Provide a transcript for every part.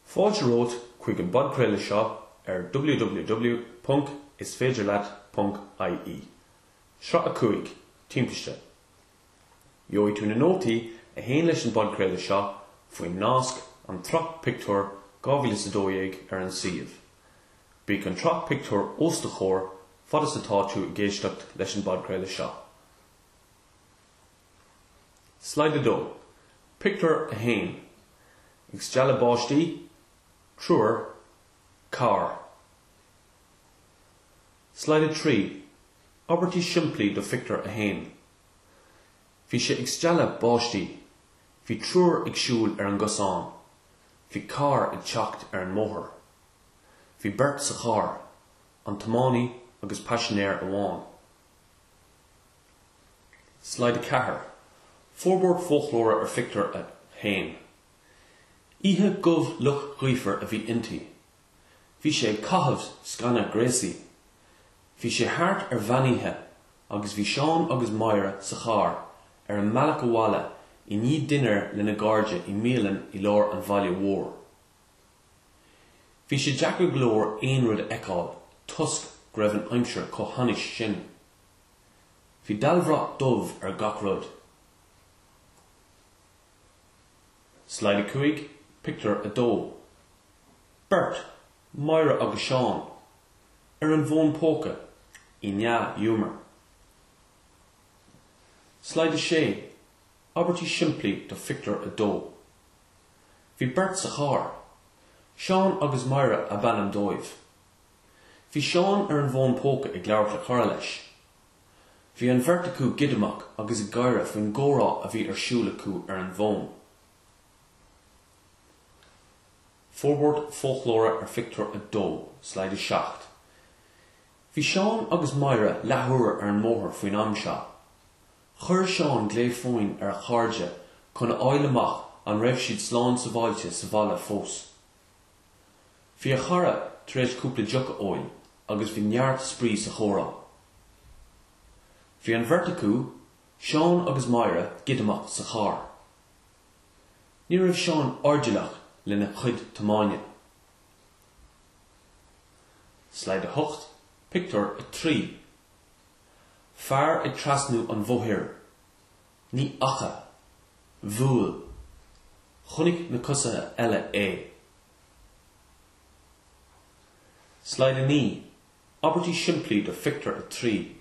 Fáilte romhat chuig an bpodchraoladh seo ar www.isféidirleat.ie, sraith a 5, Timpiste. Gheobhaidh tú na nótaí a théann leis an bpodchraoladh seo faoin nasc 'An tSraith Pictiúr' 2012 ar an suíomh. Bíodh an tsraith pictiúr os do chomhair fad is atá tú ag éisteacht leis an bpodchraoladh seo. Slide 2, Pictiúr a 1 Ag stealladh báistí, triúr, carr. Slide 3, Abairtí simplí do Phictiúr a 1 Bhí sé ag stealladh báistí. Bhí triúr ag siúl ar an gcosán. Bhí carr ag teacht ar an mbóthar. Bhí beirt sa charr, an tiománaí agus paisinéir amháin. Slide a 4, Forbairt Foclóra ar Phictiúr a 1 Oíche dhubh fhliuch ghaofar a bhí inti. Bhí sé ag caitheamh sceana gréasaí. Bhí sé thart ar mheánoíche agus bhí Seán agus Máire sa charr ar a mbealach abhaile i ndiaidh dinnéir lena gcairde i mbialann i lár an bhaile mhóir. Bhí sé deacair go leor aon rud a fheiceáil toisc go raibh an aimsir chomh hainnis sin. Bhí dallbhrat dubh ar gach rud. Slide a 5, Pictiúr a 2 Beirt, Máire agus Seán, ar an bhfón póca, i ndea-ghiúmar. Slide a 6, Abairtí simplí do Phictiúr a 2 Bhí beirt sa charr. Seán agus Máire ab ainm dóibh. Bhí Seán ar an bhfón póca ag labhairt le cara leis. Bhí an bheirt acu giodamach agus ag gáire faoin gcomhrá a bhí ar siúl acu ar an bhfón. Forbairt Foclóra ar Phictiúr a 2, Slide a 7, Bhí Seán agus Máire leathuair ar an mbóthar faoin am seo. Chuir Seán glao fóin ar a chairde chun a fháil amach an raibh siad slán sabháilte sa bhaile fós. Bhí a chara tar éis cúpla deoch a ól agus bhí neart spraoi sa chomhrá. Bhí an bheirt acu, Seán agus Máire giodamach sa charr. Ní raibh Seán airdeallach lena chuid tiomáine. Slide a 8, Pictiúr a 3 Fear ag trasnú an bhóthair. Ní fhaca. Bhuail. Chonaic na coisithe eile é. Slide 9, Abairtí simplí do Phictiúr 3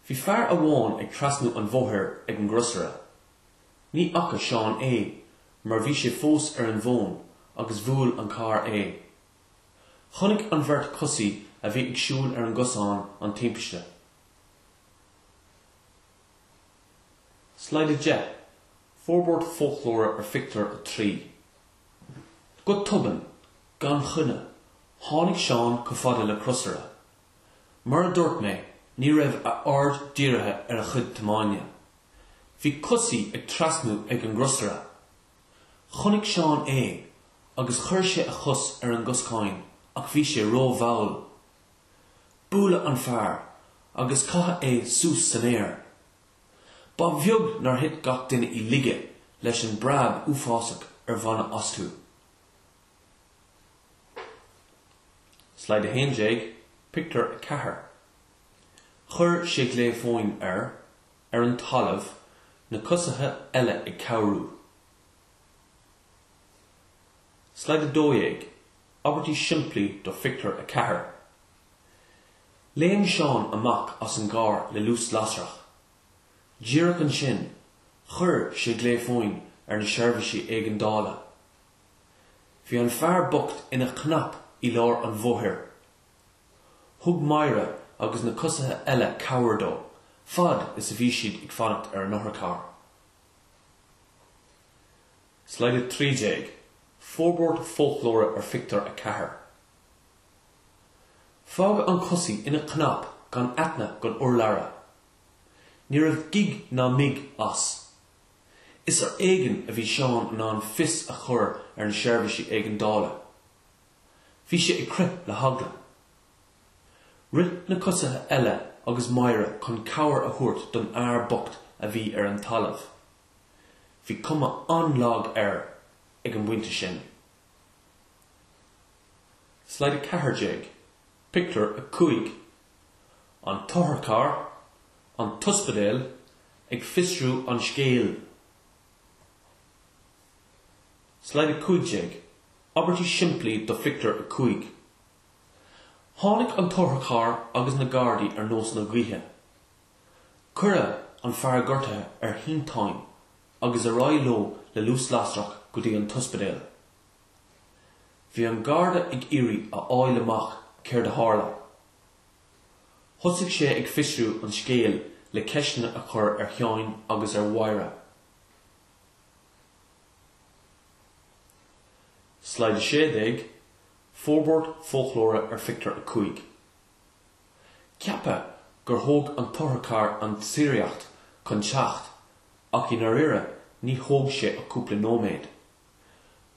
Bhí fear amháin ag trasnú an bhóthair ag an gcrosaire. Ní fhaca Seán é mar bhí sé fós ar an bhfón agus bhuail an carr é. Chonaic an bheirt coisí a bhí ag siúl ar an gcosán an timpiste. Slide 10, Forbairt foclóra ar Phictiúr a Trí Go tobann, gan choinne, tháinig Seán chomh fada le crosaire. Mar a dúirt mé, ní raibh a aird dírithe ar a chuid tiomáine. Bhí coisí ag trasnú ag an gcrosaire. Chonaic Seán é agus chuir sé a chos ar an gcoscán ach bhí sé ró-mhall. Buaileadh an fear agus caitheadh é suas san aer. Ba bheag nár thit gach duine i laige leis an bpreab uafásach a baineadh astu. Slide 11, Pictiúr 4 Chuir sé glao fóin ar, ar an talamh, na coisithe eile ag cabhrú. Slide 12. abairtí simplí do Phictiúr a Ceathair. Léim Seán amach as an gcarr le luas lasrach. Díreach ansin, chuir sé glao fóin ar na seirbhísí éigeandála. Bhí an fear bocht ina chnap i lár an bhóthair. Thug Máire agus na coisithe eile cabhair dó, fad is a bhí siad ag fanacht ar an otharcharr. Slide 13, Forbairt foclóra ar phictiúr 4. Fágadh an coisí ina cnap gan aithne gan urlabhra. Ní raibh gíog ná míog as. Is ar éigean a bhí Seán in ann fios a chur ar na seirbhísí éigeandála. Bhí sé ag crith le heagla. Rith na coisithe eile agus Máire chun cabhair a thabhairt don fhear bocht a bhí ar an talamh. Bhí cuma an-lag air ag an bpointe sin. Slide 14, Pictiúr 5 An t-otharcharr, an t-ospidéal, ag fiosrú an scéil. Slide 15, Abairtí simplí do Phictiúr 5 Tháinig an t-otharcharr agus na Gardaí ar nós na gaoithe. Cuireadh an fear gortaithe ar shínteán agus ar aghaidh leo le luas lasrach go dtí an t-ospidéal. Bhí an Garda ag iarraidh a fháil amach céard a tharla. Thosaigh sé ag fiosrú an scéil le ceisteanna a chur ar Sheán agus ar Mháire. Slide 16, Forbairt foclóra ar phictiúr 5. Ceapadh gur thóg an t-otharcharr an tsíoraíocht chun teacht, ach i ndáiríre níor thóg sé ach cúpla nóiméad.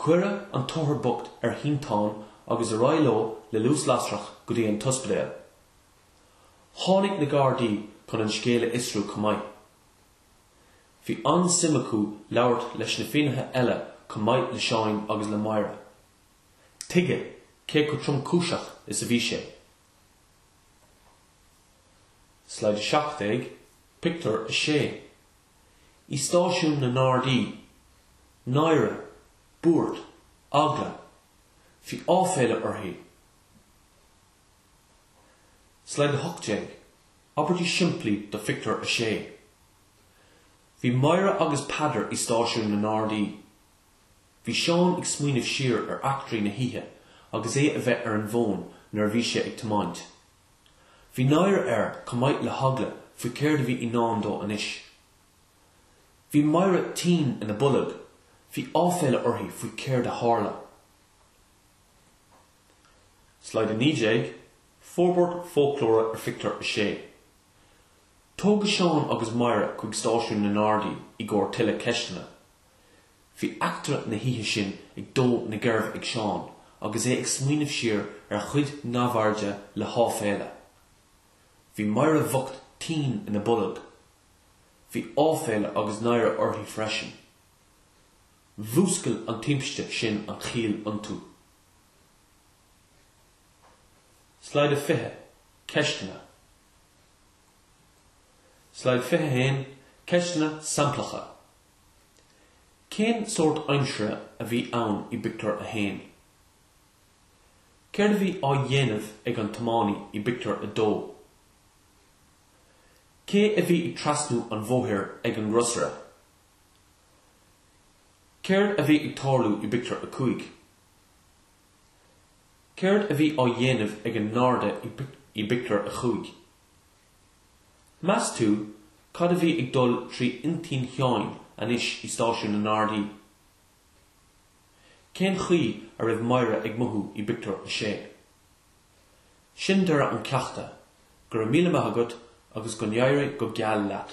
Cuireadh an t-othar bocht ar shínteán agus ar aghaidh leo le luas lasrach go dtí an t-ospidéal. Tháinig na Gardaí chun an scéal a fhiosrú chomh maith. Bhí an-suim acu labhairt leis na finnéithe eile chomh maith le Seán agus le Máire. Tuigeadh cé chomh tromchúiseach is a bhí sé? Slide 17, Pictiúr 6 I stáisiún na nGardaí, náire, buairt, eagla, bhí áiféala uirthi. Slide 18, Abairtí simplí do Phictiúr 6 Bhí Máire agus Peadar i stáisiún na nGardaí. Bhí Seán ag smaoineamh siar ar eachtraí na hoíche agus é a bheith ar an bhfón nuair a bhí sé ag tiomáint. Bhí náire air chomh maith le heagla faoi céard a bhí i ndán dó anois. Bhí Máire tinn ina bolg, bhí áiféala uirthi faoi céard a tharla. Slide 19, Forbairt Foclóra ar Phictiúr 6. Tógadh Seán agus Máire chuig stáisiún na nGardaí i gcomhair tuilleadh ceisteanna. Bhí eachtra na hoíche sin ag dó na geirbe ag Seán agus é ag smaoineamh siar ar a chuid neamhairde le háiféala. Bhí Máire bhocht tinn ina bolg. Bhí áiféala agus náire uirthi freisin. Mhúscail an timpiste sin an chiall iontu. Slide 20, Ceisteanna Slide 21, Ceisteanna samplacha. Cén sórt aimsire a bhí ann i bpictiúr a haon? Céard a bhí á dhéanamh ag an tiománaí i bpictiúr a dó? Cé a bhí ag trasnú an bhóthair ag an gcrosaire? Céard a bhí ag tarlú i bpictiúr a cúig? Céard a bhí á dhéanamh ag an ngarda i bpictiúr a chúig? Meas tú cad a bhí ag dul trí intinn Sheáin anois i stáisiún na nGardaí? Cén chaoi a raibh Máire ag mothú i bpictiúr a sé? Sin deireadh an cheachta, go raibh míle maith agat agus go n-éirí go geal leat.